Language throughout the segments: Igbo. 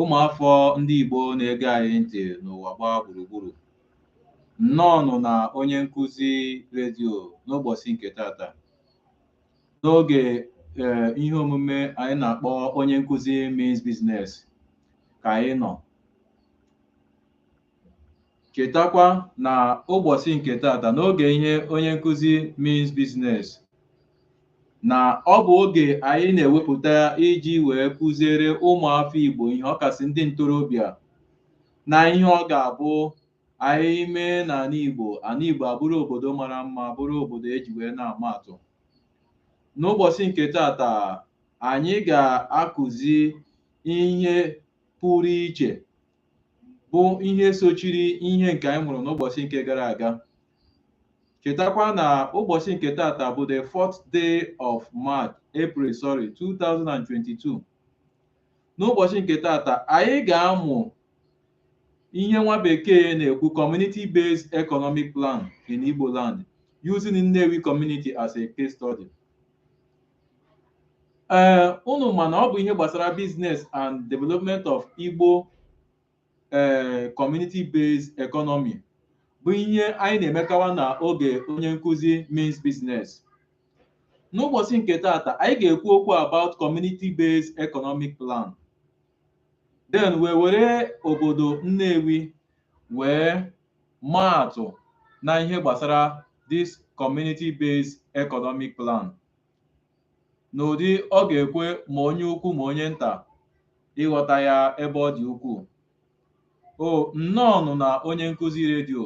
ụmụafọ ndị Igbo na-ege anyị ntị n'ụwa gbaa gburugburu nnọọ nụ na onye nkụzi redio n'ụbọchị nke tata n'oge ee ihe omume anyị na-akpọ onye nkụzi means business ka anyị nọ Chetakwa na ụbọchị nke tata n'oge ihe onye nkụzi means business na ọ bụ oge anyị na-ewepụta iji wee kụziere ụmụafọ Igbo ihe ọkasị ndị ntorobịa na ihe ọ ga-abụ anyị mee n'ala Igbo ala Igbo abụrụ obodo mara mma bụrụ obodo eji wee na-ama atụ n'ụbọchị nke tata anyị ga-akụzi ihe pụrụ iche bụ ihe sochiri ihe nke anyị mụrụ n'ụbọchị nke gara aga chetakwa na ụbọchị nke tata bụ the fourth day of March April sorry 2022 n'ụbọchị nke tata anyị ga-amụ ihe nwa bekee na-ekwu community based economic plan in Igbo land using Nnewi community as a case study ee unu ma na ọ bụ ihe gbasara business and development of Igbo ee community based economy bụ ihe anyị na-emekawa na oge onye nkụzi means business n'ụbọchị nke tata anyị ga-ekwu okwu about community based economic plan then wee were obodo Nnewi wee maa atụ na ihe gbasara this community based economic plan n'ụdị ọ ga-ekwe ma onye ukwu ma onye nta ịghọta ya ebe ọ dị ukwuu o nnọọnụ na onye nkụzi redio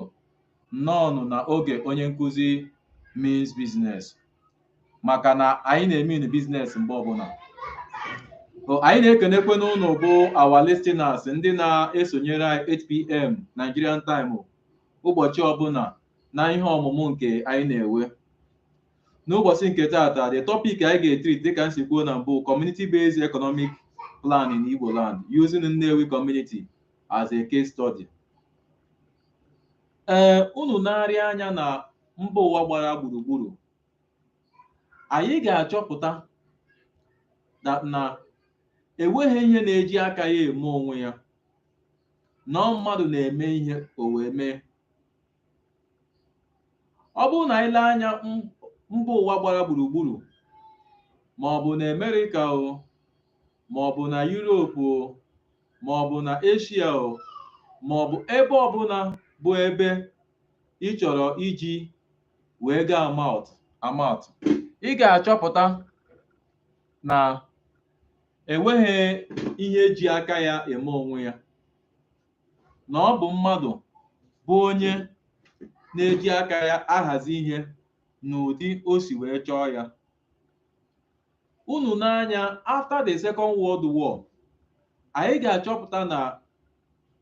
nnọọnụ na oge onye nkụzi means business maka na anyị na-emean business mgbe ọbụla So, anyị na-ekenekwanụ unu bụ our listeners ndị na-esonyere anyị 8pm Nigerian time ụbọchị ọbụla na ihe ọmụmụ nke anyị na-enwe n'ụbọchị nke taata the topic anyị ga-etreat dịka m si kwuo na mbụ community based economic plan in Igbo land using Nnewi community as a case study ee unu na-ele anya na mba ụwa gbara gburugburu anyị ga-achọpụta na enweghị ihe na-eji aka ya eme onwe ya na ọ mmadụ na-eme ihe o wee mee ọ bụrụ na anyị lee anya m- mba ụwa gbara gburugburu ma ọ bụ na Amerịka o ma ọ bụ na Yuropu o ma ọ bụ na Asia o ma ọ bụ ebe ọbụla bụ ebe ị chọrọ iji wee ga-ama atụ ị ga-achọpụta na enweghị ihe ji aka ya eme onwe ya na ọ bụ mmadụ bụ onye na-eji aka ya ahazi ihe n'ụdị o si wee chọọ ya unu nee anya after the second world war anyị ga-achọpụta na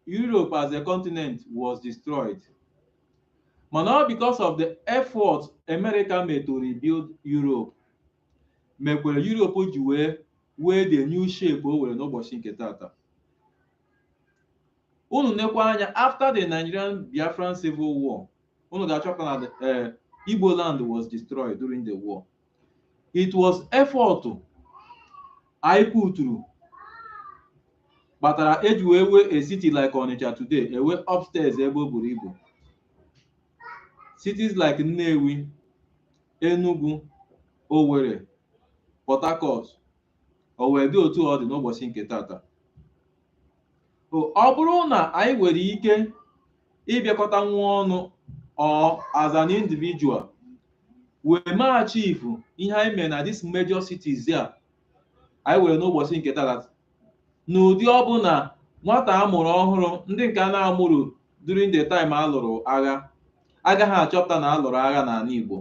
Europe as a continent was destroyed mana ọ because of the effort America made to rebuild Europe mekwere Europe ji wee wee the new shape o were n'ụbọchị nke taata unu nekwa anya after the Nigerian Biafran civil war unu ga-achọpụta na eh, Igbo land was destroyed during the war it was effort anyị puturu kpatara e ji wee wee a city like Onitsha today e wee upstairs ebe o buru ibu cities like Nnewi Enugu Owerri Port Harcourt o wee dị otu ọ dị n'ụbọchị nke taata ọ bụrụ na anyị nwere ike ịbịakọta nwa ọnụ or as an individual wee mee achieve ihe anyị mere na this major cities a anyị were n'ụbọchị nke taata n'ụdị ọ bụ na nwata a mụrụ ọhụrụ ndị nke a na-amụrọ during the time a lụrụ agha agaghị achọpụta na a lụrụ agha n'ana Igbo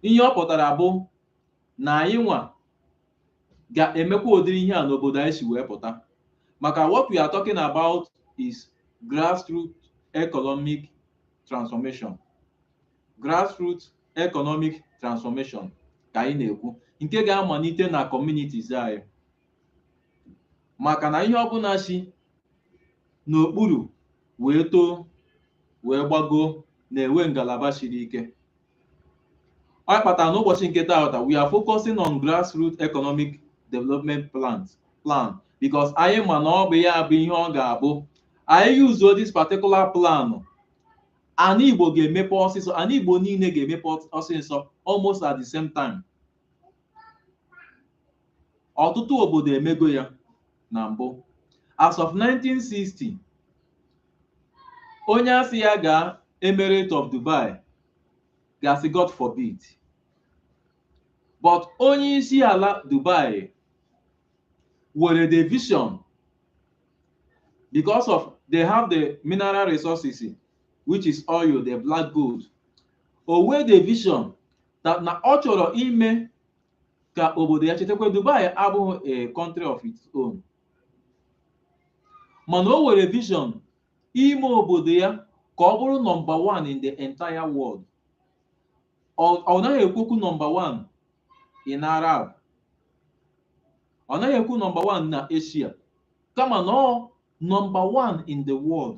ihe ọ pụtara bụ na anyị nwa ga-emekwa ụdịrị ihe a n'obodo anyị si wee pụta maka what we are talking about is grassroots economic transformation grassroots economic transformation ka anyị na-ekwu nke ga-amalite na communities anyị maka na ihe ọbụla si n'okpuru wee too wee gbagoo na-enwe ngalaba siri ike ọ kpatara n'ụbọchị nke taata we are focusing on grassroots economic development plan because anyị ma na ọ bụ ya bụ ihe ọ ga-abụ anyị yuzuo this particular plan ana igbo ga-emepe ọsịsọ ana igbo niile ga-emepe ọsịsọ almost at the same time ọtụtụ obodo emego ya na mbụ as of 1960 onye a sị ya gaa emirate of dubai ga-asị god forbid but onye isi ala dubai were the vision because of they have the mineral resources which is oil the black gold o wee the vision that na ọ chọrọ ime ka obodo ya chetakwa Dubai abụghị a country of its own mana o were vision ime obodo ya ka ọ bụrụ number one in the entire world ọ ọ naghị ekwu okwu number one in Arab ọ naghị ekwu number one na Asia kama na ọ number one in the world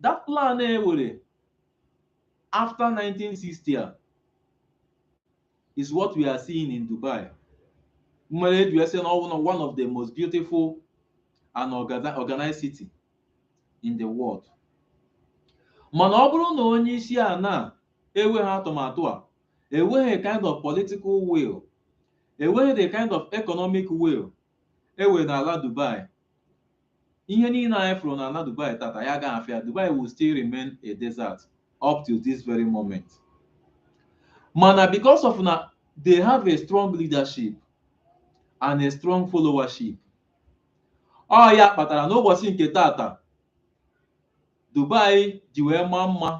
that plan e were after 1960 is what we are seeing in Dubai mere eji wee sị na ọ bụ one of the most beautiful and orga- organized city in the world mana ọ bụrụ na onye isi ala enweghị atụmatụ a enweghị kind of political will enweghị the kind of economic will e were n'ala Dubai ihe niile anyị fụrụ na ala Dubai tata anyị agaghị afụ ya Dubai will still remain a desert up till this very moment mana because of na they have a strong leadership and a strong followership ọ ya kpatara n'ụbọchị nke tata Dubai ji wee maa mma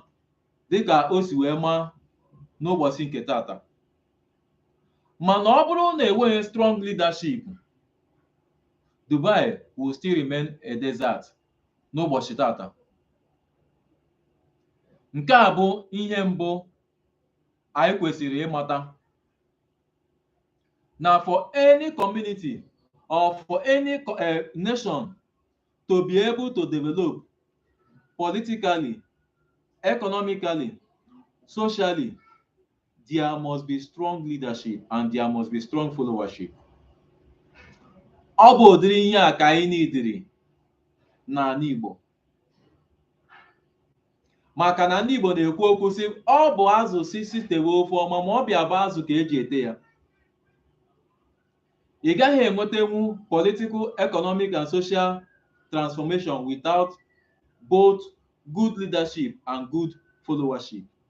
dịka o si wee maa n'ụbọchị nke tata mana ọ bụrụ na enweghị strong leadership Dubai will still remain a desert n'ụbọchị tata nke a bụ ihe mbụ anyị kwesịrị ịmata na for any community or for any co- eh, nation to be able to develop politically economically socially there must be strong leadership and there must be strong followership. ọ bụ ụdịrị ihe a ka anyị niidiri n'ala Igbo maka na ndị Igbo na-ekwu okwu sị ọ bụ azụ sị sị tewe ofe ọma ma ọ bịa bụ azụ ka eji ete ya ị gaghị enwetenwu political economic and social transformation without both good leadership and good followership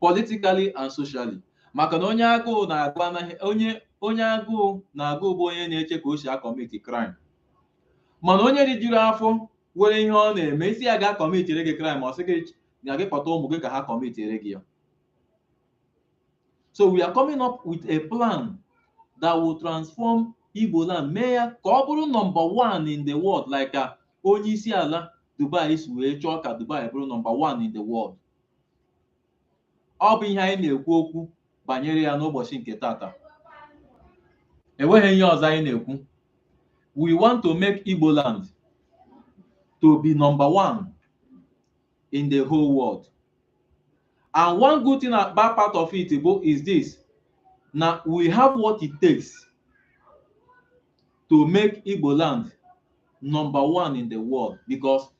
politically and socially maka na onye onye agụụ na-agụ bụ onye na-eche ka o si akọmiti crime mana onye rijuru afọ were ihe ọ na-eme ị sị ya ga kọmitire gị crime ọ sị gị na gị kpọta ụmụ gị ka ha kọmitire gị ya so we are coming up with a plan that will transform Igbo land mee ya ka ọ bụrụ number one in the world like onye isi ala Dubai si wee chọọ ka Dubai bụrụ number one in the world ọ bụ ihe anyị na-ekwu okwu banyere ya n'ụbọchị nke tata enweghị ihe ọzọ anyị na-ekwu we want to make Igbo land to be number one in the whole world and one good thing about part of it bụ is this na we have what it takes to make Igbo land number one in the world because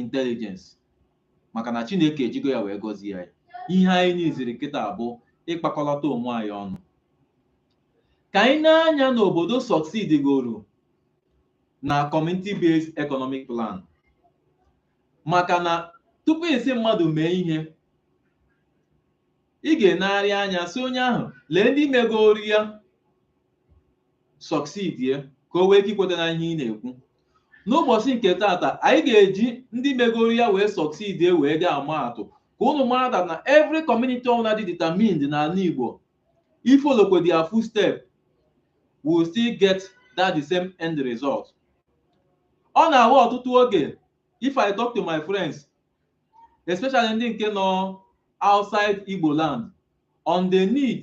intelligence maka na Chineke ejigo ya wee gọzie anyị ihe anyị niziri kịta bụ ịkpakọlata onwe anyị ọnụ ka anyị nee anya n'obodo succeed goro na community based economic plan maka na tupu ị sị mmadụ mee ihe ị ga-enegharị anya sị onye ahụ lee ndị megoro ya succeedie ka o wee ike ikweta n'ihe ị na-ekwu n'ụbọchị nke tata anyị ga-eji ndị megoro ya wee succeedie wee dị ama atụ ka unu mara that na every community ọbụla dị determined n'ala Igbo ifollowkwa their footstep will still get that the same end result ọ na-awụ ọtụtụ oge if I talk to my friends especially ndị nke nọ outside Igbo land on the need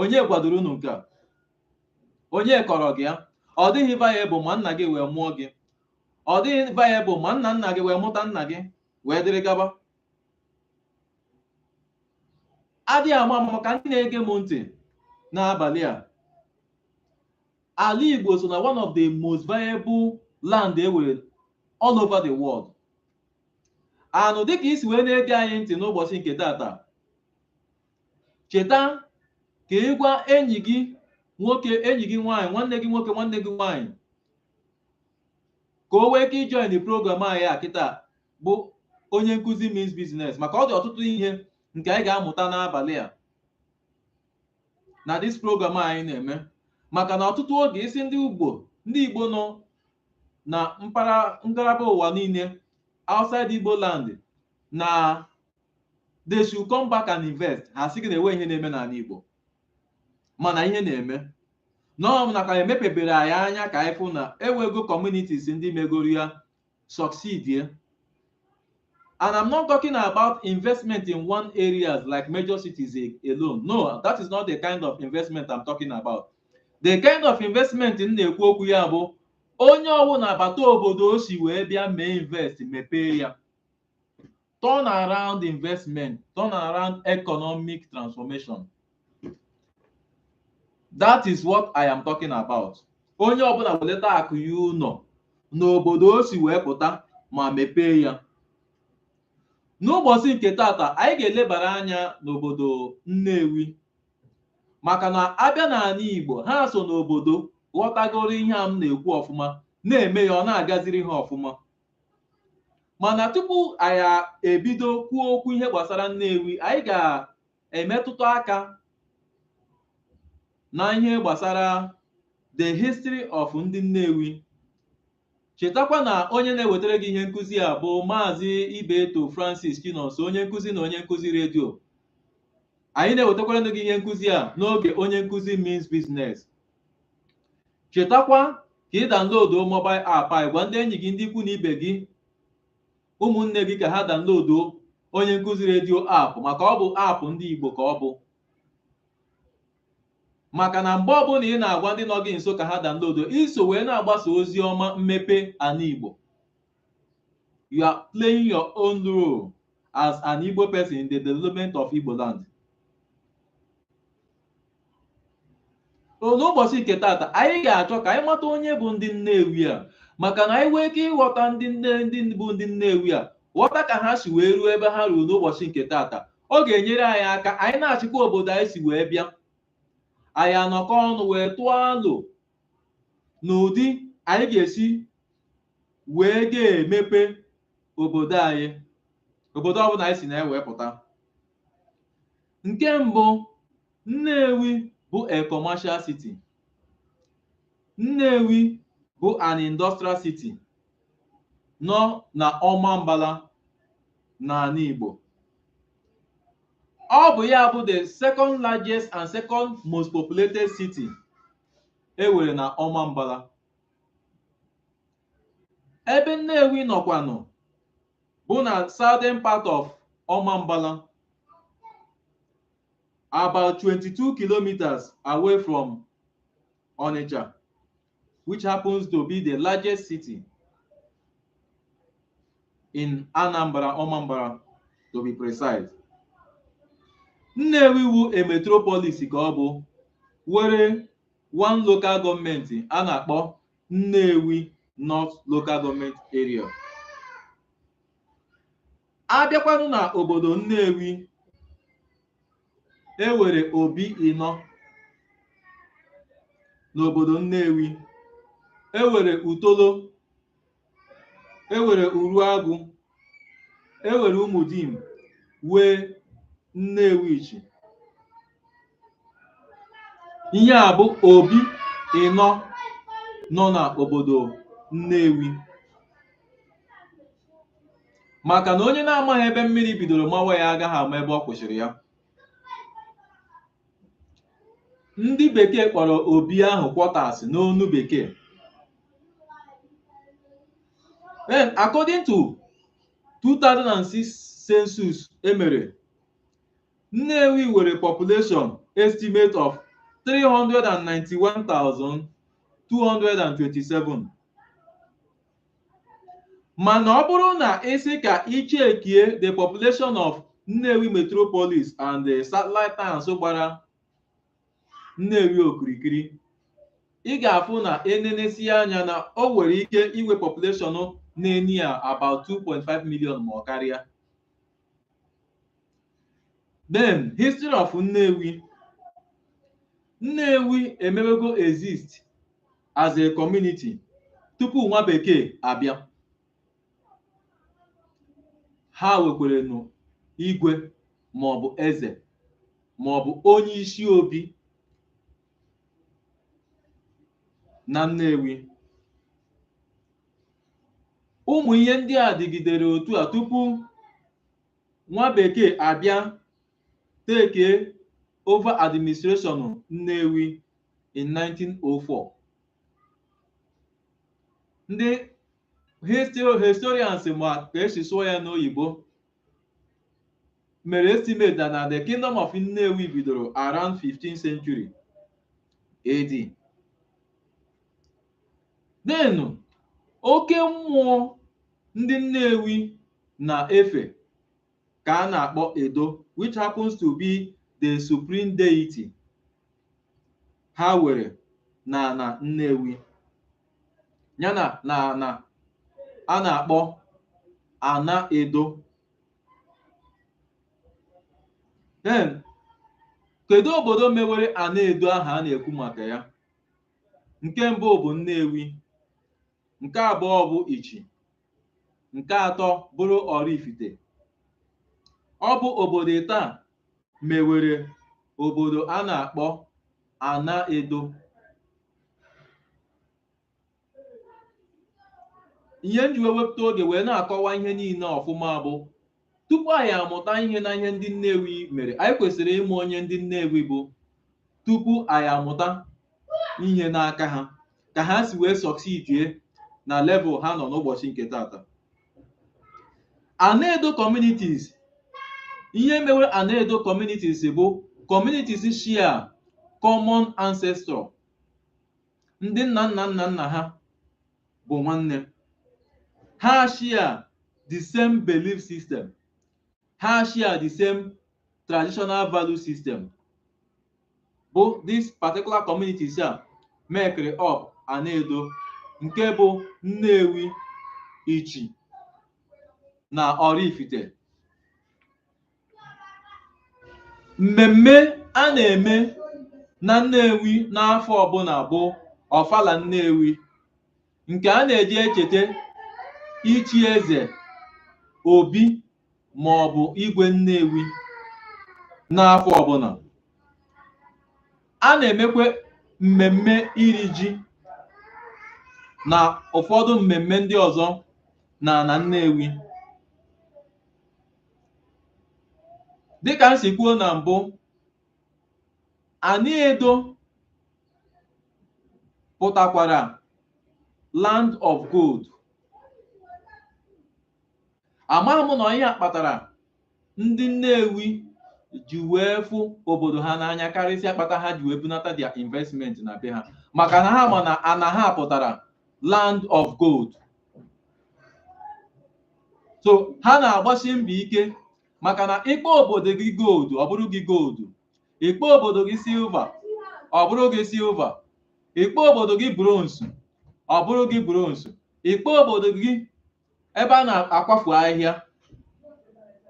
onye gwadoro unu nke a onye kọrọ gị ya ọ dịghị viable ma nna gị wee mụọ gị ọ dịghị viable ma nna nna gị wee mụta nna gị wee dịrị gaba adịghị ama maka ndị na-ege m ntị n'abalị a ala Igbo so na one of the most viable land e nwere all over the world anụ dịka i si wee na-ege anyị ntị n'ụbọchị nke tata cheta ka ị gwa enyi gị nwoke enyi gị nwaanyị nwanne gị nwoke nwanne gị nwaanyị ka o wee ike ijoin the program anyị a kịta bụ onye nkụzi means business maka ọ dị ọtụtụ ihe nke anyị ga-amụta n'abalị a na this program anyị na-eme maka na ọtụtụ oge ị sị ndị ugbo ndị Igbo nọ na ngalaba ụwa niile outside Igbo land na they should come back and invest ha sị gị na enwe ihe na-eme n'ala Igbo mana ihe na-eme nọọ na a ka emepebere anyị anya ka anyị fụ na ewego communities ndị megoro ya succeedie and I'm not talking about investment in one areas like major cities alone no that is not the kind of investment I'm talking about the kind of investment m na-ekwu okwu ya bụ onye ọbụla bata obodo o si wee bịa mee invest mepee ya turn around investment turn around economic transformation that is what i am talking about onye ọbụla weleta akụ ya ụnọ n'obodo o si wee pụta ma mepee ya n'ụbọchị nke tata anyị ga-elebara anya n'obodo Nnewi maka na a bịa n'ala Igbo ha so n'obodo ghọtagoro ihe a m na-ekwu ọfụma na-eme ya ọ na-agaziri ha ọfụma mana tupu anyị ebido kwuo okwu ihe gbasara Nnewi anyị ga-emetụta aka na ihe gbasara the history of ndị Nnewi chetakwa na onye na-ewetara gị ihe nkụzi a bụ maazị Ibeto Francis Chinonso onye nkụzi na onye nkụzi redio anyị na-ewetakwara gị ihe nkụzi a n'oge onye nkụzi means business chetakwa ka ị download mobile app anyị gwa ndị enyi gị ndị ikwu na ibe gị ụmụnne gị ka ha download onye nkụzi redio app maka ọ bụ app ndị Igbo ka ọ bụ maka na mgbe ọbụla ị na-agwa ndị nọ gị nso ka ha download i so wee na-agbasa ozi ọma mmepe ala Igbo you are playing your own role as an Igbo person in the development of Igbo land. so n'ụbọchị nke tata anyị ga-achọ ka anyị mata onye bụ ndị Nnewi a maka na anyị nwee ike ịghọta ndị nne ndị bụ ndị Nnewi a ghọta ka ha si wee ruo ebe ha ruo n'ụbọchị nke tata ọ ga-enyere anyị aka anyị na-achịkwa obodo anyị si wee bịa anyị anọkọ ọnụ wee tụọ alo n'ụdị anyị ga-esi wee ga-emepe obodo anyị obodo ọbụla anyị si na-ewepụta Nke mbụ, Nnewi bụ a commercial city. Nnewi bụ an industrial city nọ na Ọmambala n'ala Igbo. Ọ bụ ya bụ the second largest and second most populated city e were na Ọmambala. ebe Nnewi nọkwanụ bụ na southern part of Ọmambala about 22 kilometers away from Onitsha which happens to be the largest city in Anambra Ọmambara to be precise Nnewi wu a metropolis ka ọ bụ were one local gọọmenti a na-akpọ Nnewi North Local Government Area a bịakwanụ na obodo Nnewi e were obi ịnọ n'obodo Nnewi e were Otolo e were Uruagụ e were Umudim wee Nnewichi ihe a bụ obi ịnọ nọ na obodo Nnewi maka na onye na-amaghị ebe mmiri bidoro mawa ya agaghị ama ebe ọ kwụsịrị ya ndị bekee kpọrọ obi ahụ quarters n'onu bekee then according to 2006 census e mere Nnewi nwere population estimate of 391,227 mana ọ bụrụ na ị sị ka i chekie the population of Nnewi metropolis and the satellite towns gbara Nnewi okirikiri ị ga-afụ na e nenesie anya na o nwere ike inwe population na-eni ya about 2.5 million ma ọ karịa then history of Nnewi Nnewi emewego exist as a community tupu nwa bekee abịa ha wekwerenụ igwe ma ọ bụ eze ma ọ bụ onye isi obi na Nnewi ụmụ ihe ndị a dịgidere otu a tupu nwa bekee abịa take over administration Nnewi in 1904 ndị histo- historians ma ka e si sụọ ya n'oyibo mere estimate that na the kingdom of Nnewi bidoro around 15th century AD then oke mmụọ ndị Nnewi na-efe ka a na-akpọ Edo which happens to be the supreme deity ha were na ana Nnewi yana na ana a na-akpọ Ana Edo then kedu obodo mewere Ana Edo ahụ a na-ekwu maka ya nke mbụ bụ Nnewi nke abụọ bụ Ichi nke atọ bụrụ Oraifite ọ bụ obodo ịtọ a mewere obodo a na-akpọ Ana Edo ihe m ji wee wepụta oge wee na-akọwa ihe niile ọfụma bụ tupu anyị amụta ihe na ihe ndị Nnewi mere anyị kwesịrị ịma onye ndị Nnewi bụ tupu anyị amụta ihe n'aka ha ka ha si wee succeedie na level ha nọ n'ụbọchị nke tata Anaedo communities ihe mewere Anaedo communities bụ communities share common ancestor ndị nna nna nna nna ha bụ nwanne ha share the same belief system ha share the same traditional value system bụ this particular communities a mekere up Anaedo nke bụ Nnewi Ichi na Oraifite Mmemme a na-eme na Nnewi n'afọ ọbụla bụ Ọfala Nnewi nke a na-eji echeta ichi eze Obi ma ọ bụ Igwe Nnewi n'afọ ọbụla. A na-emekwa mmemme iri ji na ụfọdụ mmemme ndị ọzọ n'ala Nnewi. dịka m si kwuo na mbụ Anaedo pụtakwara land of gold amaghị m na ihe a kpatara ndị Nnewi ji wee fụ obodo ha n'anya karịsịa kpata ha ji wee bunata their investment na be ha maka na ha ma na ana ha pụtara land of gold so ha na-agbasi mbọ ike maka na ị kpọọ obodo gị gold ọ bụrụ gị gold ị kpọọ obodo gị silver ọ bụrụ gị silver ị kpọọ obodo gị bronze ọ bụrụ gị bronze ị kpọọ obodo gị ebe a na-akwafu ahịhịa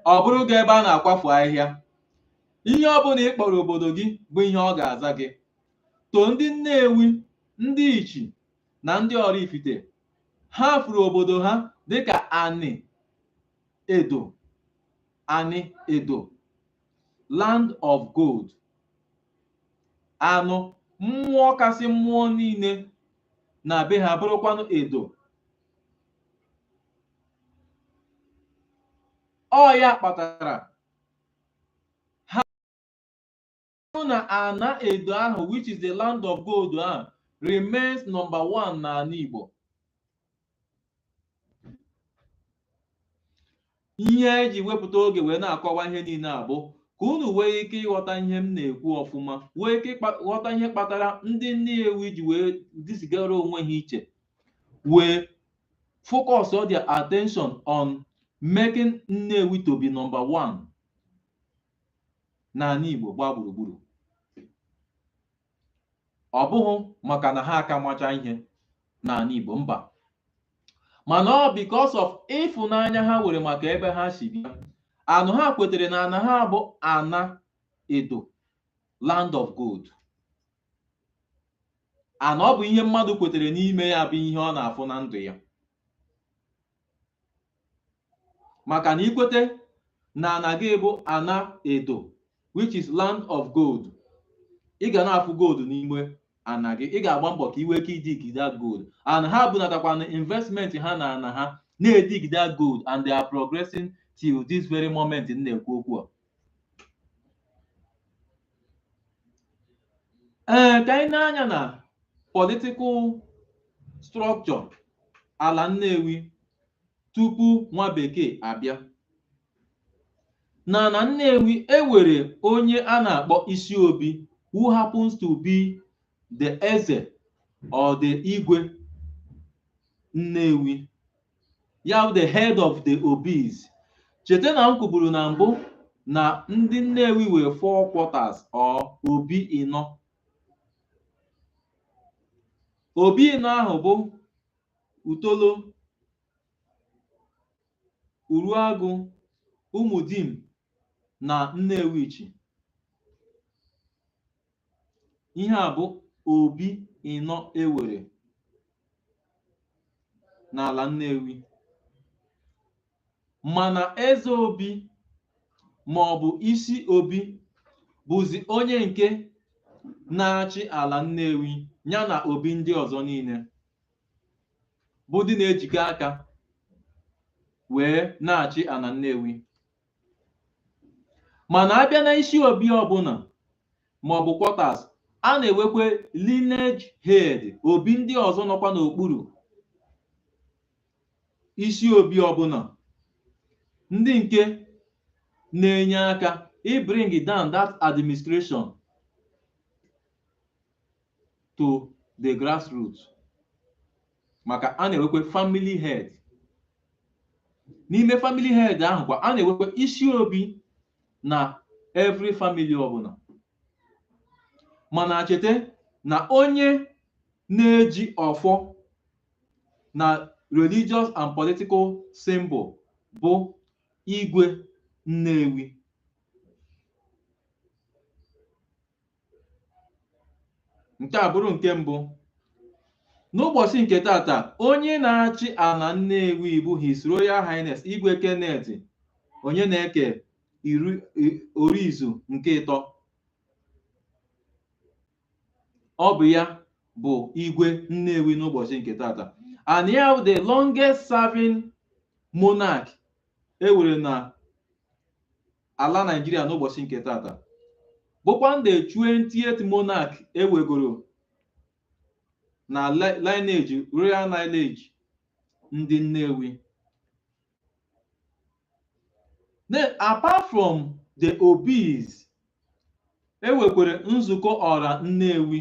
ọ bụrụ gị ebe a na-akwafu ahịhịa ihe ọ bụla ị kpọrọ obodo gị bụ ihe ọ ga-aza gị to ndị Nnewi ndị Ichi na ndị Oraifite ha fụrụ obodo ha dịka Ani Edo Ani Edo land of gold anụ mmụọ kasị mmụọ niile na be ha bụrụkwanụ Edo ọ ya kpatara bụrụ na ana edo ahụ which is the land of gold ahụ remains number one n'ala Igbo ihe e ji wepụta oge wee na-akọwa ihe niile a bụ ka unu wee ike ịghọta ihe m na-ekwu ọfụma wee ike ghọta ihe kpatara ndị Nnewi ji wee disigara onwe ha iche wee focus all their attention on making Nnewi to be number one n'ala Igbo gbaa gburugburu ọ bụghị maka na ha aka macha ihe n'ala Igbo mba mana ọ because of ịfụnanya ha nwere maka ebe ha si bịa and ha kwetere na ana ha bụ ana edo land of gold and ọ bụ ihe mmadụ kwetere n'ime ya bụ ihe ọ na-afụ na ndụ ya maka na i kwete na ana gị bụ ana edo which is land of gold ị ga na-afụ gold n'ime ana gị ị ga-agba mbọ ka i wee ike idig that gold and ha bunatakwanụ investment ha na ana ha na-edig that gold and they are progressing till this very moment m na-ekwu okwu a ee ka anyị nee anya na political structure ala Nnewi tupu nwa bekee abịa. Na na Nnewi, e were onye a na-akpọ Isiobi who happens to be the Eze or the Igwe Nnewi, ya bụ the head of the Obis. Cheta na m kwuburu na mbụ na ndị Nnewi were four quarters or obi ịnọ. Obi ịnọ ahụ bụ otolo uruagụ ụmụdim na nnewichi ihe a bụ obi ịnọ e were n'ala nnewi Mana Eze Obi maọbụ Isi Obi bụzi onye nke na-achị ala Nnewi ya na Obi ndị ọzọ niile bụ ndị na-ejikọ aka wee na-achị ala Nnewi. Mana a bịa na isi obi ọbụla maọbụ quarters, a na-ewekwe lineage head, obi ndị ọzọ nọkwa n'okpuru isi obi ọbụla ndị nke na-enye aka ibring down that administration to the grassroots maka a na-ewekwa family head n'ime family head ahụ kwa a na-ewekwa isi obi na every family ọbụla mana cheta na onye na-eji ọfọ na religious and political symbol bụ igwe Nnewi nke a bụrụ nke mbụ n'ụbọchị nke tata onye na-achị ala Nnewi bụ His Royal Highness Igwe Kenneth Onyeneke Orizu nke ịtọ ọ bụ ya bụ igwe Nnewi n'ụbọchị nke tata and ya bụ the longest serving monarch e were na ala Nigeria n'ụbọchị nke tata bụkwa the 20th monarch e wegoro na lineage royal lineage ndị Nnewi Then apart from the obis, e wekwere nzukọ ọra Nnewi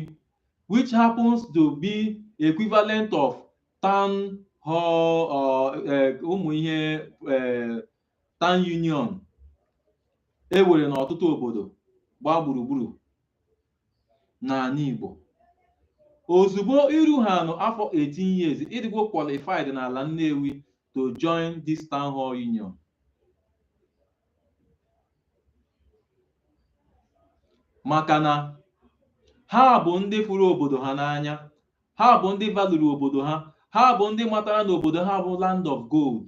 which happens to be equivalent of town hall or eh, ụmụ ihe eh, town union e were n'ọtụtụ obodo gbaa gburugburu n'ala Igbo ozugbo i ruhanụ afọ 18 years ị dịgwo qualified n'ala Nnewi to join this town hall union maka na ha bụ ndị fụrụ obodo ha n'anya ha bụ ndị valuru obodo ha ha bụ ndị matara na obodo ha bụ land of gold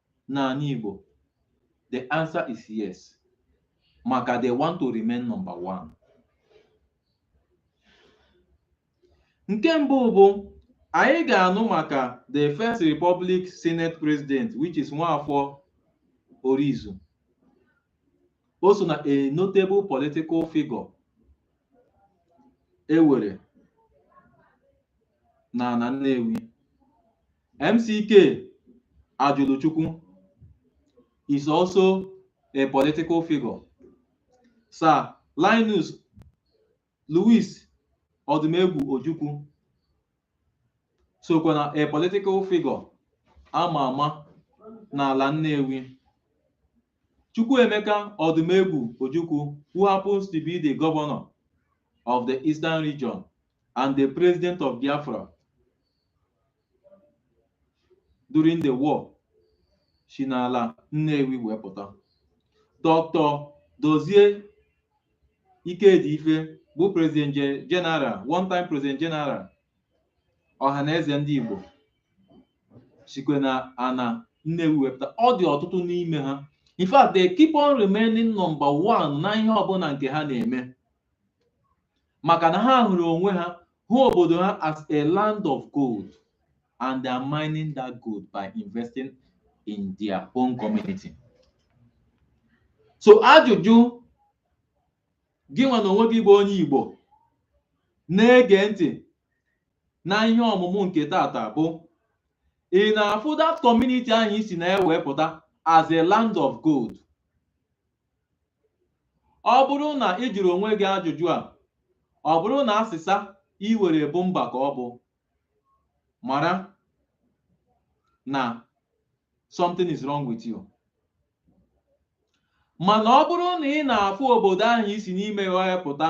n'ala Igbo? The answer is yes. Maka they want to remain number one. Nke mbụ bụ anyị ga-anụ maka the first Republic Senate President which is Nwafọ Orizu. O so na a notable political figure e were na ala Nnewi. MCK Ajuluchukwu is also a political figure. Sir Linus Louis Odumegwu Ojukwu sokwa na a political figure ama ama n'ala Nnewi. Chukwuemeka Odumegwu Ojukwu who happens to be the governor of the Eastern region and the president of Biafra during the war si n'ala Nnewi wee pụta Dr. Dozie Ikedife bụ president ge- general one time president general Ọhaneze ndị Igbo sikwa na ana Nnewi wee pụta ọ dị ọtụtụ n'ime ha in fact they keep on remaining number one na ihe ọbụla nke ha na-eme maka na ha hụrụ onwe ha hụ obodo ha as a land of gold and they are mining that gold by investing in their own community so ajụjụ gị nwa na onwe gị bụ onye Igbo na-ege ntị na ihe ọmụmụ nke tata bụ ị na-afụ that community ahụ i si na ya wee pụta as a land of gold ọ bụrụ na ị jụrụ onwe gị ajụjụ a ọ bụrụ na asịsa i were bụ mba ka ọ bụ mara na something is wrong with you mana ọ bụrụ na ị na-afụ obodo ahụ i si n'ime ya wee pụta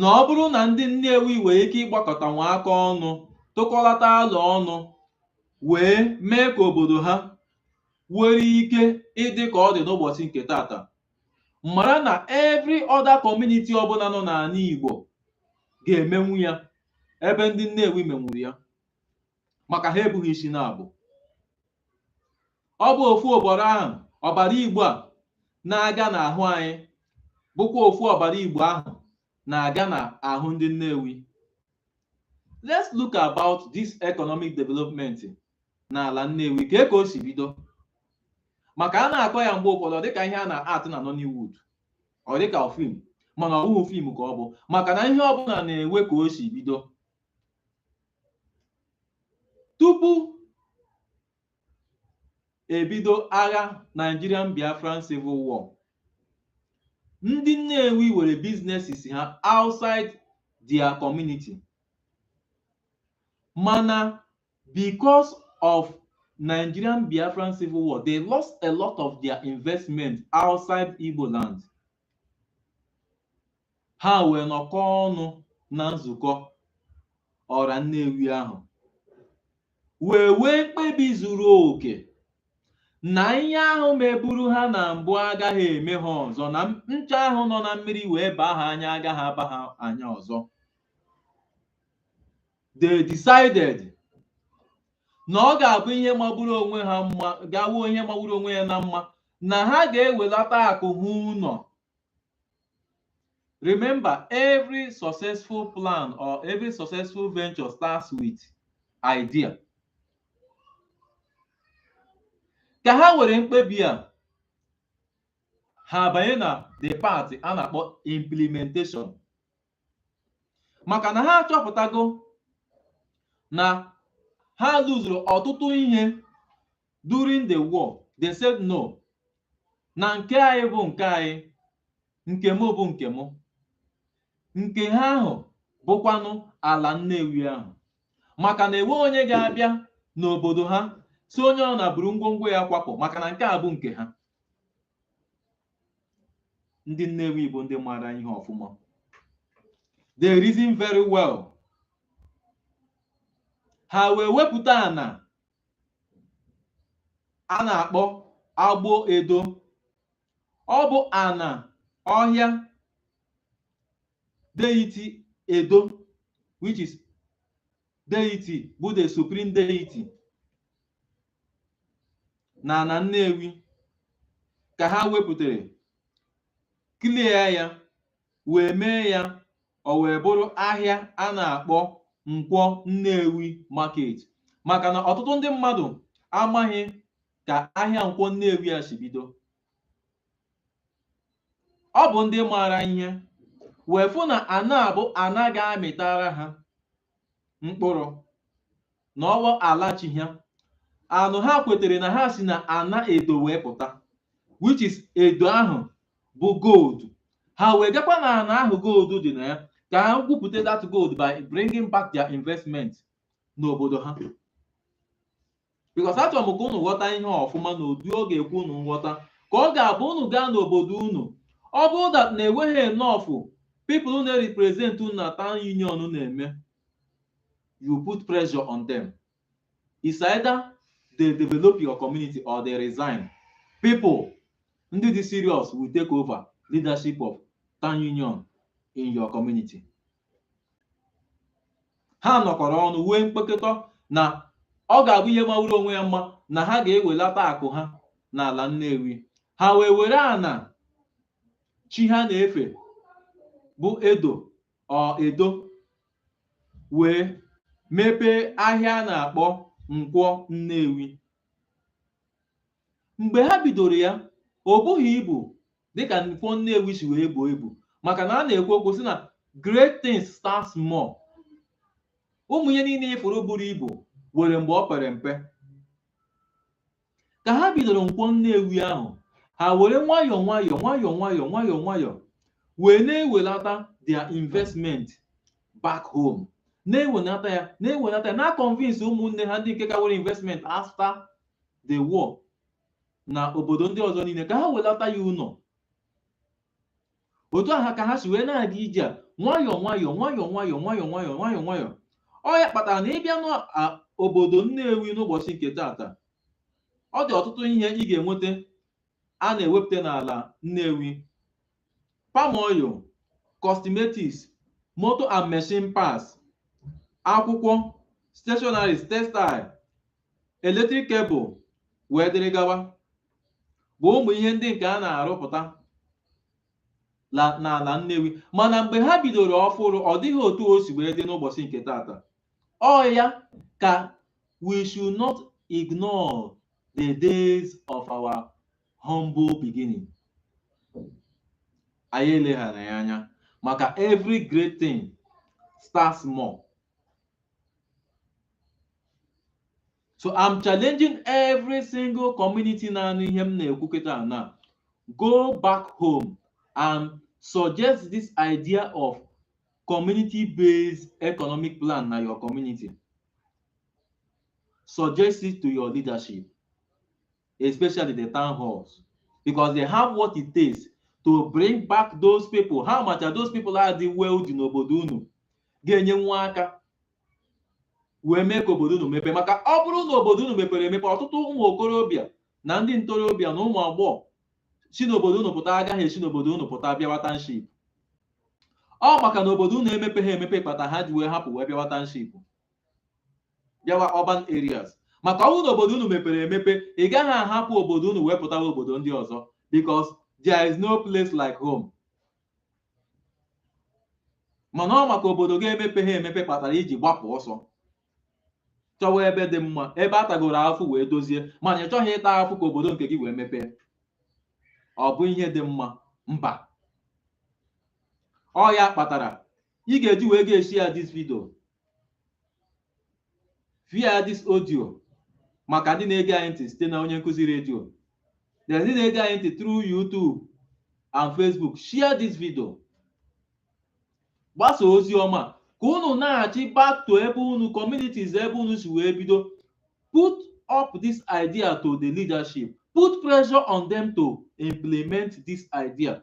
na ọ bụrụ na ndị Nnewi nwere ike ịgbakọtanwu aka ọnụ tụkọlata alo ọnụ wee mee ka obodo ha nwere ike ịdị ka ọ dị n'ụbọchị nke tata mara na every other community ọbụla nọ n'ala Igbo ga-emenwu ya ebe ndị Nnewi menwuru ya maka ha ebughị isi naabọ ọ bụ ofu ọbara ahụ ọbara Igbo a na-aga n'ahụ anyị bụkwa ofu ọbara Igbo ahụ na-aga n'ahụ ndị Nnewi let's look about this economic development n'ala Nnewi ka ka o si bido maka a na-akọ ya mgbe ụfọdụ ọ dịka ihe a na-atụ na Nollywood ọ dịka fim mana ọ bụghị fim ka ọ bụ maka na ihe ọbụla na-enwe ka o si bido tupu ebido agha Nigerian Biafran Civil War ndị Nnewi were businesses ha outside their community mana because of Nigerian Biafran Civil War they lost a lot of their investment outside Igbo land ha wee nọkọ ọnụ na nzukọ ọra Nnewi ahụ wee wee mkpebi zuru oke na ihe ahụ meburu ha na mbụ agaghị eme ha ọzọ na ncha ahụ nọ na mmiri wee baa ha anya agaghị aba ha anya ọzọ they decided na ọ ga-abụ ihe magburu onwe ha mma ga-abụ ihe magburu onwe ya na mma na ha ga-ewelata akụ ha ụlọ remember every successful plan or every successful venture starts with idea ka ha were mkpebi a ha abanye na the part a na-akpọ implementation maka na ha achọpụtago na ha lụzuru ọtụtụ ihe during the war they said no na nke anyị bụ nke anyị nke m bụ nke m nke ha ahụ bụkwanụ ala Nnewi ahụ maka na enwe onye ga-abịa n'obodo ha sị onye ọ na buru ngwongwo ya kwapụ maka na nke a bụ nke ha ndị Nnewi bụ ndị maara ihe ọfụma they reason very well ha wee wepụta ana a na-akpọ Agbọ Edo ọ bụ ana ọhịa deity Edo which is deity bụ the supreme deity na ana Nnewi ka ha wepụtara clear ya wee mee ya o wee bụrụ ahịa a na-akpọ Nkwọ Nnewi Market maka na ọtụtụ ndị mmadụ amaghị ka ahịa Nkwọ Nnewi a si bido ọ bụ ndị maara ihe wee fụ na ana a bụ ana ga-amịtara ha mkpụrụ na ọ wụ ala chi ha anụ ha kwetere na ha si na ana Edo wee pụta which is Edo ahụ bụ gold ha wee gakwa na ana ahụ gold dị na ya ka ha gwupụta that gold by bringing back their investment n'obodo ha because achọrọ m ka unu ghọta ihe ọfụma n'ụdị ọ ga-ekwe unu nghọta ka ọ ga-abụ unu gaa n'obodo unu ọ bụrụ that na enweghị enough people na-represent unu na town union na-eme you put pressure on them it's either they develop your community or they resign people ndị dị serious will take over leadership of town union in your community ha nọkọrọ ọnụ wee mkpekọta na ọ ga-abụ ihe mawuru onwe ya mma na ha ga-ewelata akụ ha n'ala Nnewi ha wee were ana chi ha na-efe bụ Edo ọ Edo wee mepee ahịa a na-akpọ Nkwọ Nnewi mgbe ha bidoro ya o bughị ibu dịka Nkwọ Nnewi si wee buo ibu maka na a na-ekwu okwu sị na great things start small ụmụ ihe niile ị fụrụ buru ibu nwere mgbe o pere mpe ka ha bidoro Nkwọ Nnewi ahụ ha were nwayọọ nwayọọ nwayọọ nwayọọ nwayọọ nwayọọ wee na-ewelata their investment back home na-ewelata ya na-ewelata ya na-convince ụmụnne ha ndị nke ka nwere investment after the war na obodo ndị ọzọ niile ka ha welata ya ụlọ otu aha ka ha si wee na-aga ije a nwayọọ nwayọọ nwayọọ nwayọọ nwayọọ nwayọọ nwayọọ nwayọọ ọ ya kpatara na ị bịa n'obodo Nnewi n'ụbọchị nke taata ọ dị ọtụtụ ihe ị ga-enweta a na-ewepụta n'ala Nnewi palm oil cosmetics motor and machine parts akwụkwọ stationeries textile electric cable wee dịrị gawa bụ ụmụ ihe ndị nke a na-arụpụta n'ala Nnewi mana mgbe ha bidoro ọfụrụ ọ dịghị otu o si wee dị n'ụbọchị nke taata ọ ya ka we should not ignore the days of our humble beginning anyị eleghara ya anya maka every great thing starts small so i'm challenging every single community na-anụ ihe m na-ekwu kịta na go back home and suggest this idea of community based economic plan na your community suggest it to your leadership especially the town halls because they have what it takes to bring back those people ha macha those people dị wealthy n'obodo unu ga-enyenwu aka wee mee ka obodo unu mepee maka ọ bụrụ na obodo unu mepere emepe ọtụtụ ụmụ okorobịa na ndị ntorobịa na ụmụ agbọghọ si n'obodo unu pụta agaghị esi n'obodo unu pụta bịawa township ọ maka na obodo unu emepeghị emepe kpata ha ji wee hapụ wee bịawa township bịawa urban areas maka ọ bụrụ na obodo unu mepere emepe ị gaghị ahapụ obodo unu wee pụtawa obodo ndị ọzọ because there is no place like home mana ọ maka obodo gị emepeha emepe kpatara i ji gbapụ ọsọ chọwa ebe dị mma ebe a tagoro afụ wee dozie mana ị chọghị ịta afụ ka obodo nke gị wee mepee ọ bụ ihe dị mma mba ọ ya kpatara ị ga-eji wee ga-eshare this video via this audio maka ndị na-ege anyị ntị site na onye nkụzi redio na ndị na-ege anyị ntị through YouTube and Facebook share this video gbasa ozi ọma ka unu na-achị back to ebe unu communities ebe unu si wee bido put up this idea to the leadership put pressure on them to implement this idea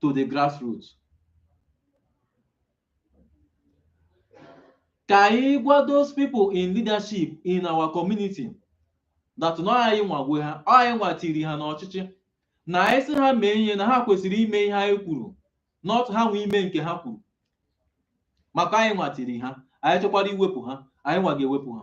to the grassroots ka anyị gwa those people in leadership in our community that na anyị nwa nwe ha ọ anyị nwa tiri ha n'ọchịchị na anyị sị ha mee ihe na ha kwesịrị ime ihe anyị kwuru not ha nwa ime nke ha kwuru maka anyị nwa tiri ha anyị chọkwara iwepụ ha anyị nwa ga-ewepụ ha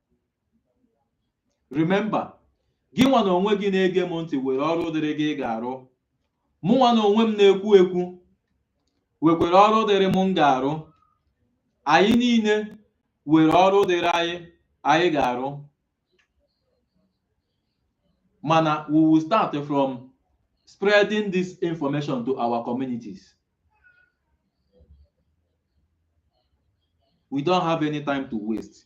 remember gị nwa na onwe gị na-ege m ntị were ọrụ dịrị gị ị ga-arụ mụ nwa na onwe m na-ekwu ekwu wekwere ọrụ dịrị m m ga-arụ anyị niile were ọrụ dịrị anyị anyị ga-arụ mana we will start from spreading this information to our communities we don't have any time to waste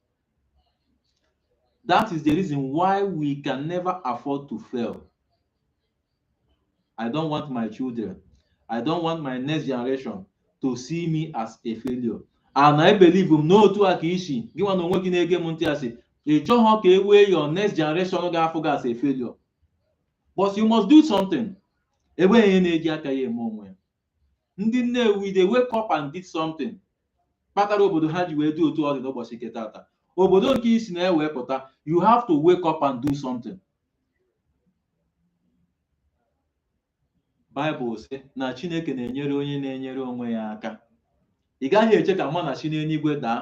That is the reason why we can never afford to fail. I don't want my children. I don't want my next generation to see me as a failure. And I believe m na otu a ka i si gị nwa na onwe gị na-ege m ntị asị ị chọghọ ka e wee your next generation ga-afụ gị as a failure. But you must do something. Enweghị ihe na-eji aka ya eme onwe ya. ndị Nnewi they wake up and did something kpatara obodo ha ji wee dị otu ọ dị n'ụbọchị nke tata obodo nke i si na ya wee pụta you have to wake up and do something Bible sị na Chineke na-enyere onye na-enyere onwe ya aka ị gaghị eche ka manna si n'eluigwe daa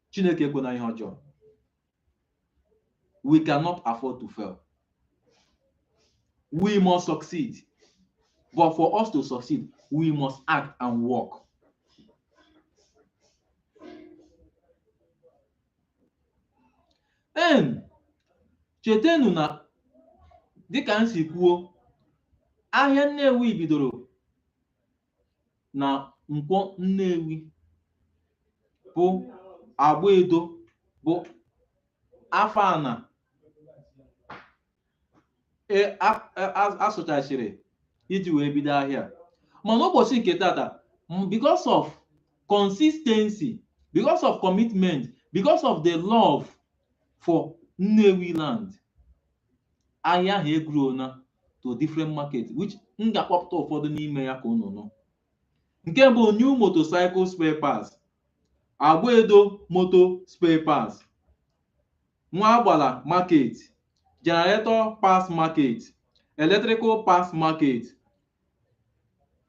Chineke ekwena ihe ọjọọ we cannot afford to fail we must succeed but for us to succeed we must act and work en chetenu na dịka m si kwuo ahịa Nnewi bidoro na Nkwọ Nnewi bụ Agbaedo bụ afọ ana e, a sụchachiri iji wee bido ahịa mana ụbọchị nke tata because of consistency because of commitment because of the love for Nnewi land ahịa ahụ egrowna to different market which m ga-akpọpụta ụfọdụ n'ime ya ka unu nụ nke bụ new motorcycle spare parts Agbaedo motor spare parts Nwagbala market generator parts market electrical parts market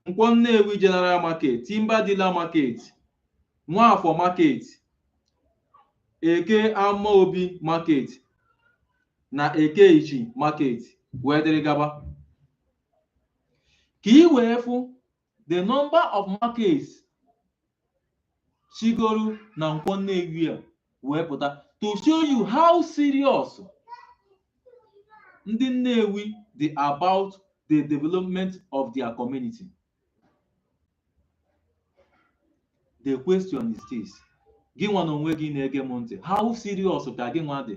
Nkwọ Nnewi General Market, Timber Dealer Market, Nwafọ Market, Eke Amaobi Market na Eke Ichi Market wee dịrị gaba. Ka i wee fụ the number of markets sigoro na Nkwọ Nnewi a wee pụta to show you how serious ndị Nnewi dị about the development of their community the question is this gị nwa na onwe gị na-ege m ntị how serious ka gị nwa dị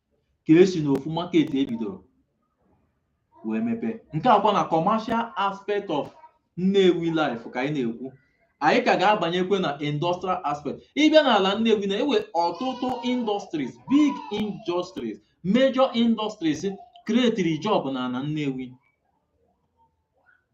ka e si n'ofu market e bidoro wee mepee nke a kwa na commercial aspect of Nnewi life ka anyị na-ekwu anyị ka ga-abanyekwe na industrial aspect ị bịa n'ala Nnewi na e nwe ọtụtụ industries big industries major industries creatiri job na ala Nnewi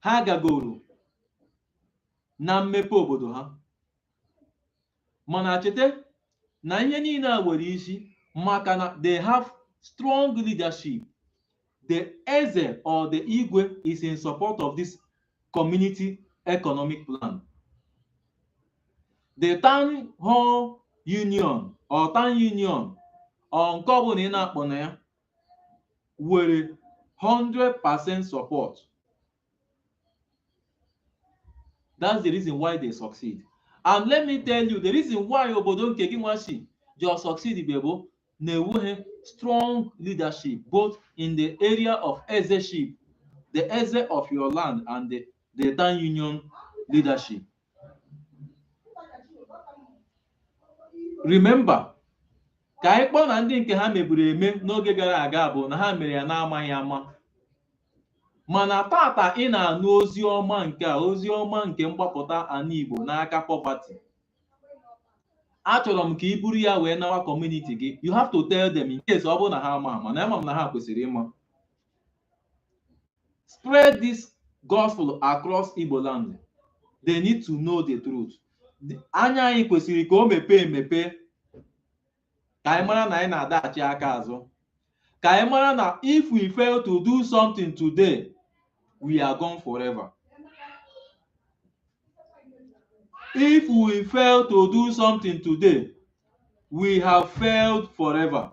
ha gagoro na mmepe obodo ha mana cheta na ihe niile a nwere isi maka na they have strong leadership the eze or the igwe is in support of this community economic plan the town hall union or town union or nke ọbụla ị na-akpọ na ya nwere 100% support that's the reason why they succeed and let me tell you the reason why obodo nke gị nwa si ji succeed be bụ na enweghị strong leadership both in the area of ezeship the eze of your land and the, the town union leadership remember ka anyị kpọọ na ndị nke ha meburu eme n'oge gara aga bụ na ha mere ya n'amaghị ama mana tata ị na-anụ ozi ọma nke a ozi ọma nke mgbapụta ana Igbo n'aka poverty achọrọ m ka ị buru ya wee nawa community gị you have to tell them in case ọ bụrụ na ha ama ama na ama m na ha kwesịrị ịma Spread this gospel across Igbo land. They need to know the truth. Anya anyị kwesịrị ka o mepee emepe ka anyị mara na anyị na-adaghachi aka azụ ka anyị mara na if we fail to do something today we are gone forever. If we fail to do something today we have failed forever.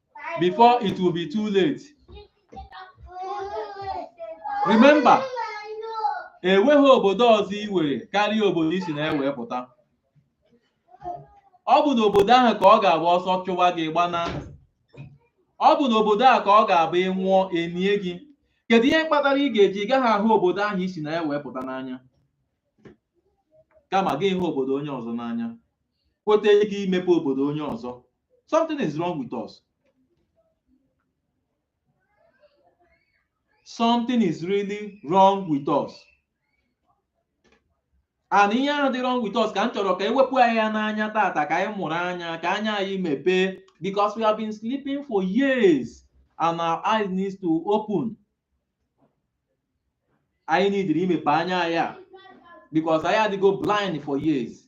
before it will be too late remember enweghị obodo ọzọ i nwere karịa obodo i si na ya wee pụta ọ bụ n'obodo ahụ ka ọ ga-abụ ọsọ chụwa gị gbana ọ bụ n'obodo ahụ ka ọ ga-abụ ị nwụọ e nie gị kedu ihe kpatara ị ga-eji gaghị ahụ obodo ahụ i si na ya wee pụta n'anya kama gị hụ obodo onye ọzọ n'anya kweta ike imepe obodo onye ọzọ something is wrong with us something is really wrong with us and ihe ahụ dị wrong with us ka m chọrọ ka e wepụ anyị ya n'anya tata ka anyị mụrụ anya ka anya anyị mepee because we have been sleeping for years and our eyes needs to open anyị needịrị imepe anya anyị because anyị adịgo blind for years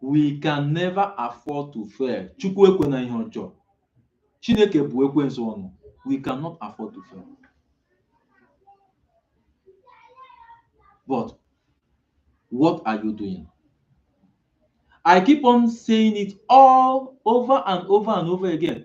we can never afford to fail chukwu ekwena ihe ọjọọ chineke bụọ ekwensu ọnụ we cannot afford to fail but what are you doing i keep on saying it all over and over and over again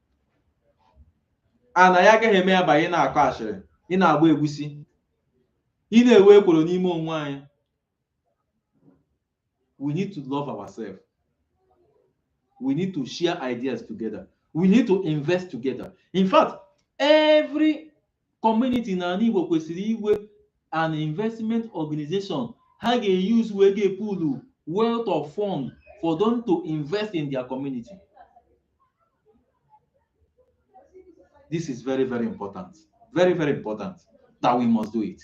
a na ya agaghị eme ya ba ị na-akọ ashịrị ị na-agba egwusi ị na-ewe ekworo n'ime onwe anyị we need to love ourselves we need to share ideas together we need to invest together in fact every community n'ala Igbo kwesịrị inwe an investment organization ha ga-use wee ga-pool wealth of fund for them to invest in their community. This is very, very important. Very, very important that we must do it.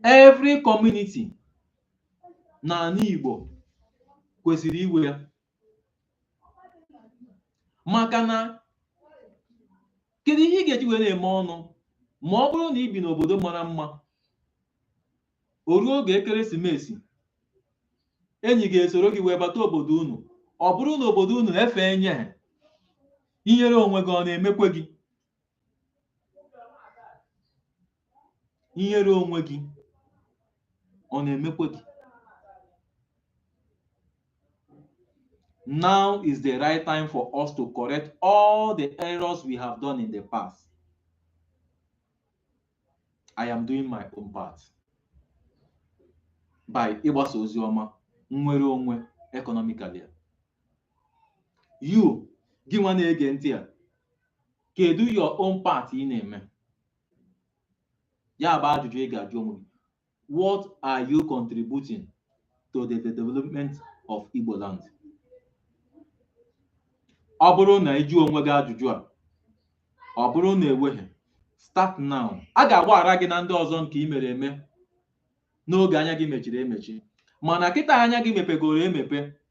Every community n'ala Igbo kwesịrị inwe ya maka na kedu ihe ị ga-eji were eme ọnụ ma ọ bụrụ na ị bi n'obodo mara mma o ruo oge ekeresimesi enyi gị esoro gị wee bata obodo unu ọ bụrụ na obodo unu efe enye ha ihere onwe gị ọ na-emekwe gị ihere onwe gị ọ na-emekwe gị now is the right time for us to correct all the errors we have done in the past i am doing my own part by ịgbasa ozi ọma nnwere onwe economically you gị nwa na-ege ntị a kedu your own part ị na-eme ya bụ ajụjụ ị ga-ajụ onwe gị what are you contributing to the development of Igbo land ọ bụrụ na ị jụọ onwe gị ajụjụ a ọ bụrụ na enweghị start now a ga-agbaghara gị na ndị ọzọ nke ị mere eme n'oge anya gị mechiri emechi mana kịta anya gị mepegoro emepe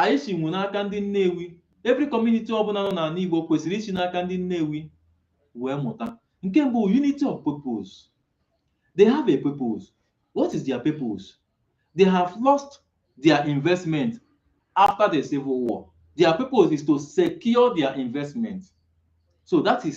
anyị si nwe n'aka ndị Nnewi every community ọbụla nọ n'ala Igbo kwesịrị isi n'aka ndị Nnewi wee mụta nke mbụ unity of purpose they have a purpose what is their purpose they have lost their investment after the civil war their purpose is to secure their investment so that is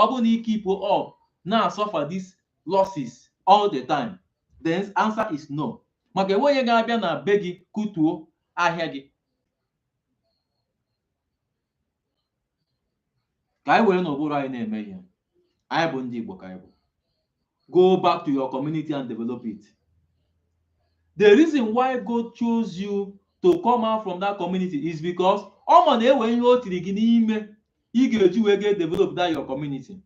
ọ bụ na ị keep on na-asuffer this losses all the time the answer is no maka enwe onye ga-abịa na be gị kutuo ahịa gị ka anyị werenụ ụbụrụ anyị na-eme ihe anyị bụ ndị Igbo ka anyị bụ go back to your community and develop it the reason why God chose you to come out from that community is because ọ ma na enwe ihe o tiri gị n'ime ị ga-eji wee ga develop that your community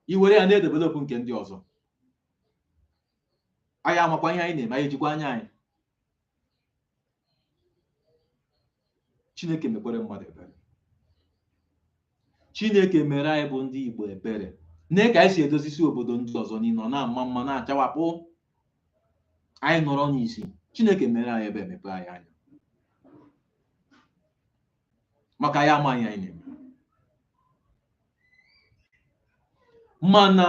i were ya na-edevelop nke ndị ọzọ anyị amakwa ihe anyị na-eme anyị ejikwa anya anyị chineke mekwere mmadụ ebere chineke mere anyị bụ ndị igbo ebere nee ka anyị si edozisi obodo ndị ọzọ niile ọ na-ama mma na-achawapụ anyị nọrọ n'isi chineke mere anyị ebere mepe anyị anya maka anyị amaghị ihe anyị na-eme mana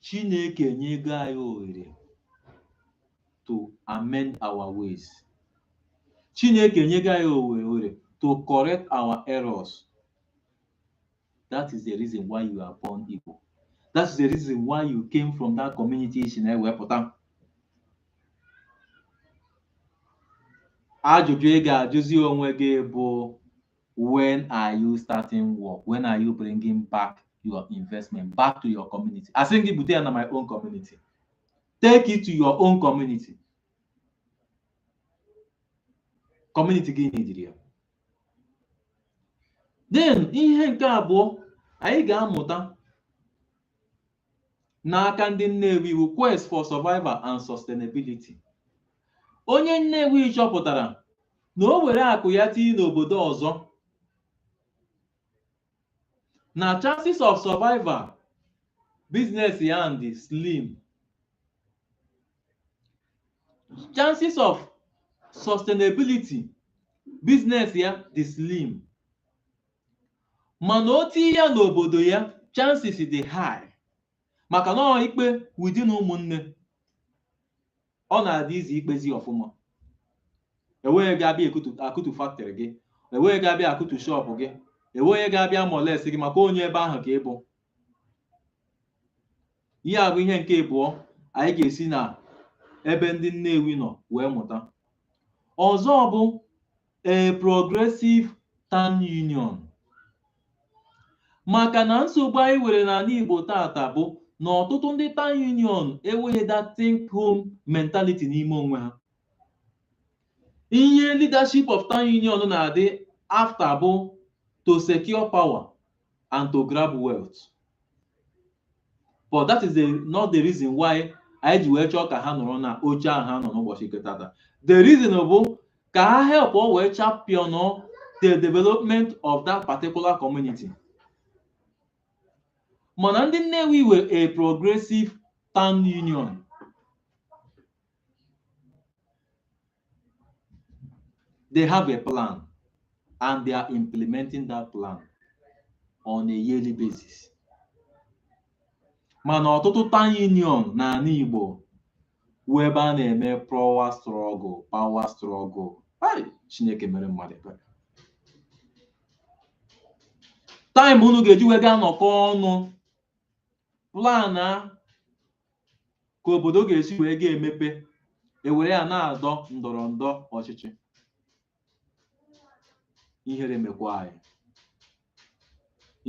Chineke enyego anyị ohere to amend our ways. Chineke enyego anyị ohere to correct our errors. That is the reason why you are born Igbo. That is the reason why you came from that community i si na ya wee pụta. Ajụjụ ị ga-ajụzi onwe gị bụ when are you starting work when are you bringing back your investment back to your community asịghị gị bute ya na my own community take it to your own community community gị needịrị ya then ihe nke abụọ anyị ga-amụta n'aka ndị Nnewi bụ Quest for Survival and Sustainability. Onye Nnewi chọpụtara na o were akụ ya tinye n'obodo ọzọ na chances of survival business ya dị slim chances of sustainability business ya dị slim mana o tinye ya n'obodo ya chances dị high maka na ọ ikpe within ụmụnne ọ na-adị easy ikpezi ọfụma enweghị ga-abịa akụtu factory gị enweghị ga-abịa akụtu shop gị enweghị ga-abịa molest gị maka onye ebe ahụ ka ị bụ ihe a bụ ihe nke ịbụọ anyị ga-esi na ebe ndị Nnewi nọ wee mụta ọzọ bụ a progressive town union maka na nsogbu anyị nwere n'ala Igbo tata bụ na ọtụtụ ndị town union enweghị that think home mentality n'ime onwe ha ihe leadership of town union na-adị after bụ to secure power and to grab wealth but that is not the reason why anyị ji wee chọọ ka ha nọrọ na oche ahụ ha nọ n'ụbọchị nke tata the reason bụ ka ha helpụọ wee champion the development of that particular community mana ndị Nnewi nwere a progressive town union They have a plan and they are implementing that plan on a yearly basis. mana ọtụtụ town union n'ala Igbo wụ ebe a na-eme power struggle power struggle Hai, Chineke mere mmadụ ebere time unu ga-eji wee gaa nọkọ ọnụ plan a ka obodo ga-esi wee ga-emepe e were ya na-adọ ndọrọndọrọ ọchịchị ihere mekwa anyị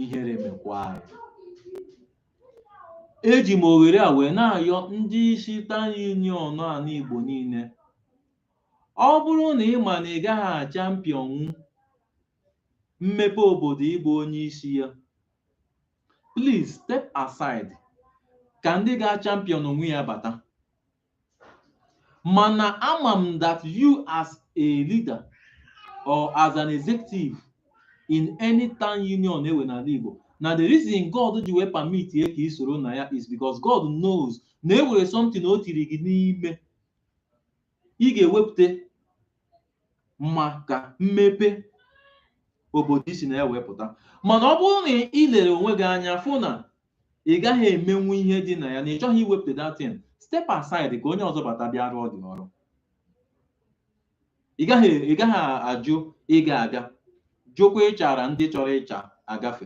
ihere mekwa anyị eji m oghere a wee na-ayọ ndị isi town union ala Igbo niile ọ bụrụ na ị ma na ị gaghị achampionnwu mmepe obodo ị bụ onye isi ya please step aside ka ndị ga-achampionnwu ya bata mana ama m that you as a leader or as an executive in any town union e were n'ala Igbo na the reason God ji wee permit ya ka ị soro na ya is because God knows na e nwere something o tiri gị n'ime ị ga-ewepụta maka mmepe obodo i si na ya wee pụta mana ọ bụrụ na ị lere onwe gị anya fụ na ị gaghị emenwu ihe dị na ya na ị chọghị iwepụta that thing step aside ka onye ọzọ bata bịa rụọ the ọrụ ị gaghị ị gaghị ajụ ịga aga jụkwa ịchara ndị chọrọ ịcha agafe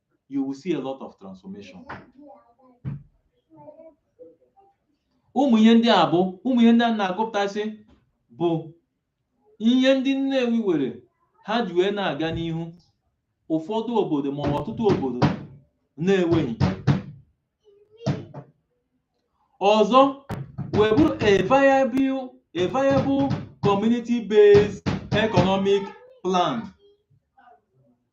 you will see a lot of transformation ụmụ ihe ndị a bụ ụmụ ihe ndị a na-agụpụtasị bụ ihe ndị Nnewi were ha ji wee na-aga n'ihu ụfọdụ obodo ma ọtụtụ obodo na-enweghị ọzọ wee bụrụ a viable a viable community based economic plan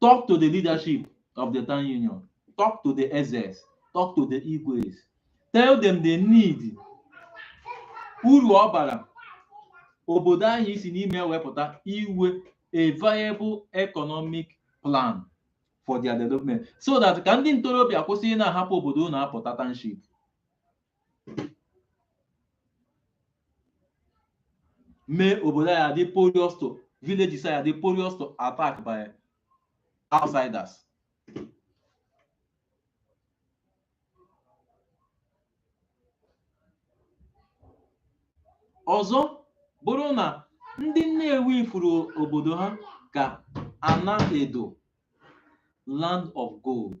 talk to the leadership of the town union talk to the ezes talk to the igwes tell them the need uru ọ bara obodo anyị si n'ime wee pụta iwe a viable economic plan for their development so that ka ndị ntorobịa kwụsị ịna-ahapụ obodo na-apụta township mee obodo ya adị porous to villages ya adị porous to attack by outsiders ọzọ bụrụ na ndị Nnewi furu obodo ha ka Anaedo land of gold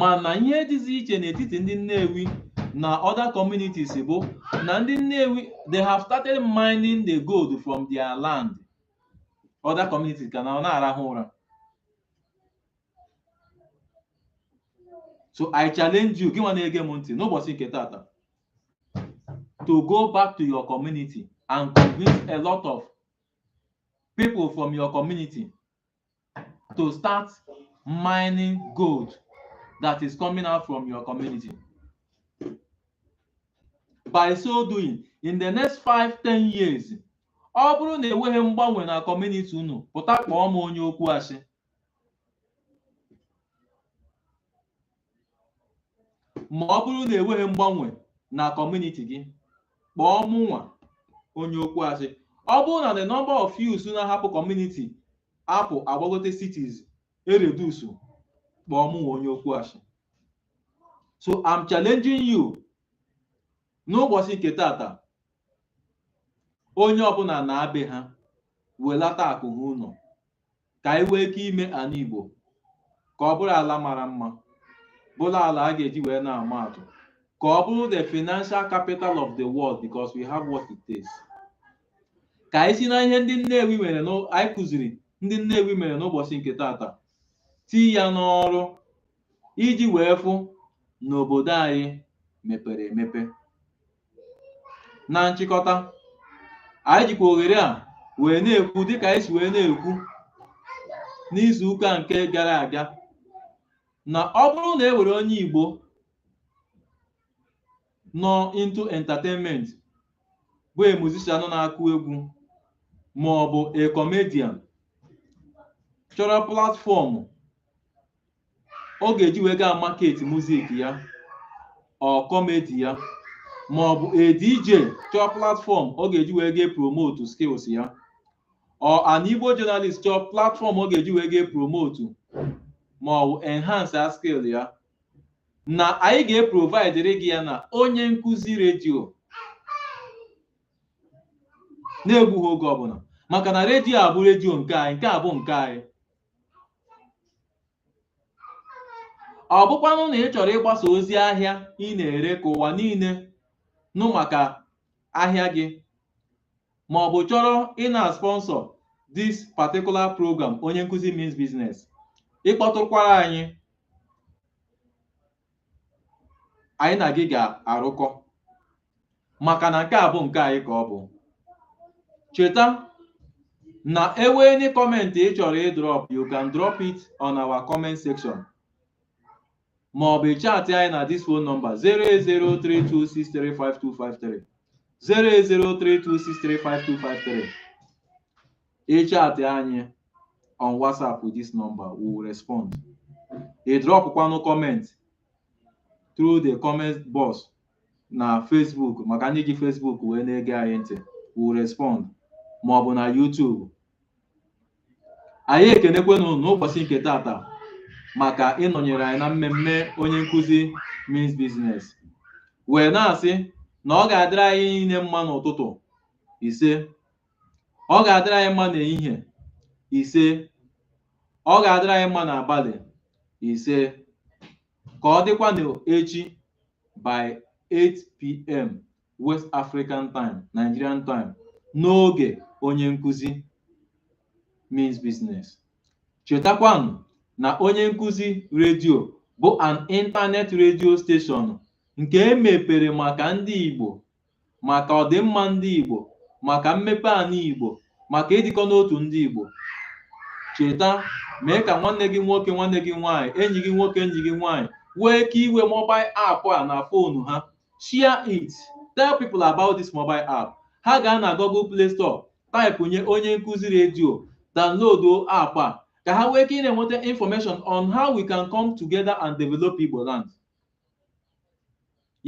mana ihe dịzi iche n'etiti ndị Nnewi na other communities bụ na ndị Nnewi they have started mining the gold from their land other communities ka nọ na-arahụ ụra so I challenge you gị nwa na-ege m ntị n'ụbọchị nke tata to go back to your community and convince a lot of people from your community to start mining gold that is coming out from your community. By so doing, in the next five ten years, ọ bụrụ na enweghị mgbanwe na community unu pụta kpọọ m onye okwu asị ma ọ bụrụ na enweghị mgbanwe na community gị kpọọ mụnwa onye okwu asị ọ bụrụ na the number of youths na-ahapụ community apụ agbagote cities eredusu kpọọ mụnwa onye okwu asị so I'm challenging you n'ụbọchị nke tata onye ọbụla naa be ha welata akụ ha ụnọ ka anyị wee ike ime ana Igbo ka ọ bụrụ ala mara mma bụrụ ala a ga-eji wee na-ama atụ ka ọ bụrụ the financial capital of the world because we have what it takes ka anyị si na ihe niile anyị kụziri ndị Nnewi mere n'ụbọchị nke tata tii ya n'ọrụ iji wee fụ na obodo anyị mepere emepe na nchịkọta anyị jikwa ohere a wee na-ekwu dịka anyị si wee na-ekwu n'izu ụka nke gara aga na ọ bụrụ na e nwere onye Igbo nọ into entertainment bụ a musician nọ na-akụ egwu ma ọ bụ a comedian chọrọ platform ọ ga-eji wee gaa market music ya or comedy ya ma ọ bụ a DJ chọọ platform ọ ga-eji wee gaa promote skills ya or an Igbo journalist chọọ platform ọ ga-eji wee gaa promote ma ọ bụ enhance a skill ya na anyị ga-eprovidere gị ya na onye nkụzi redio n'egbughị oge ọbụla maka na redio a bụ redio nke anyị nke a bụ nke anyị ọ bụkwanụ na ị chọrọ ịgbasa ozi ahịa ị na-ere ka ụwa niile nụ maka ahịa gị ma ọ bụ chọrọ ị na-sponsor this particular program onye nkụzi means business ị kpọtụkwara anyị anyị na gị ga-arụkọ maka na nke a bụ nke anyị ka ọ bụ cheta na e wee any comment ị chọrọ ịdrop you can drop it on our comment section ma ọ bụ chaatị anyị na this phone number 08032635253 08032635253 ị chatị anyị on whatsapp with this number we will respond ị drọpụkwanụ comment through the comment box na facebook maka ndị ji facebook wee na-ege anyị ntị we will respond ma ọ bụ na youtube anyị ekenekwenụ n'ụbọsị nke tata maka ịnọnyere anyị na mmemme onye nkụzi means business wee na-asị na ọ ga-adịrị anyị niile mma n'ụtụtụ ise ọ ga-adịrị anyị mma n'ehihie ise ọ ga-adịrị anyị mma n'abalị ise ka ọ dịkwa n'echi by 8pm West African time Nigerian time n'oge onye nkụzi means business chetakwanụ na onye nkụzi redio bụ an internet radio station nke e mepere maka ndị Igbo maka ọdịmma ndị Igbo maka mmepe ana Igbo maka ịdịkọ n'otu ndị Igbo cheta mee ka nwanne gị nwoke nwanne gị nwaanyị enyi gị nwoke enyi gị nwaanyị wee ike iwe mobile app a na fonu ha share it tell people about this mobile app ha gaa na Google Play Store taịpụnye onye nkụzi redio download app a ka ha wee ike ị na-enweta information on how we can come together and develop Igbo land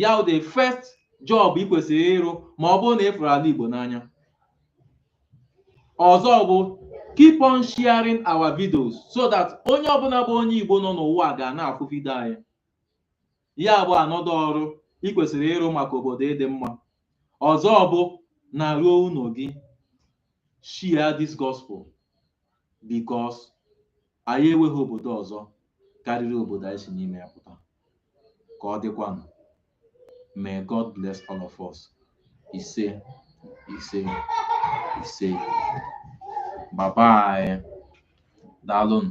ya wụ the first job ị kwesịrị ịrụ ma ọ bụrụ na ị fụrụ ana Igbo n'anya ọzọ bụ keep on sharing our videos so that onye ọbụna bụ onye Igbo nọ n'ụwa ga na-afụ vidio anyị ya bụ another ọrụ ị kwesịrị ịrụ maka obodo ịdị mma ọzọ bụ naruo ụnọ gị share this gospel because anyị enweghị obodo ọzọ karịrị obodo anyị si n'ime ya pụta ka ọ dịkwanụ may god bless all of us ise ise ise bye bye daalụnụ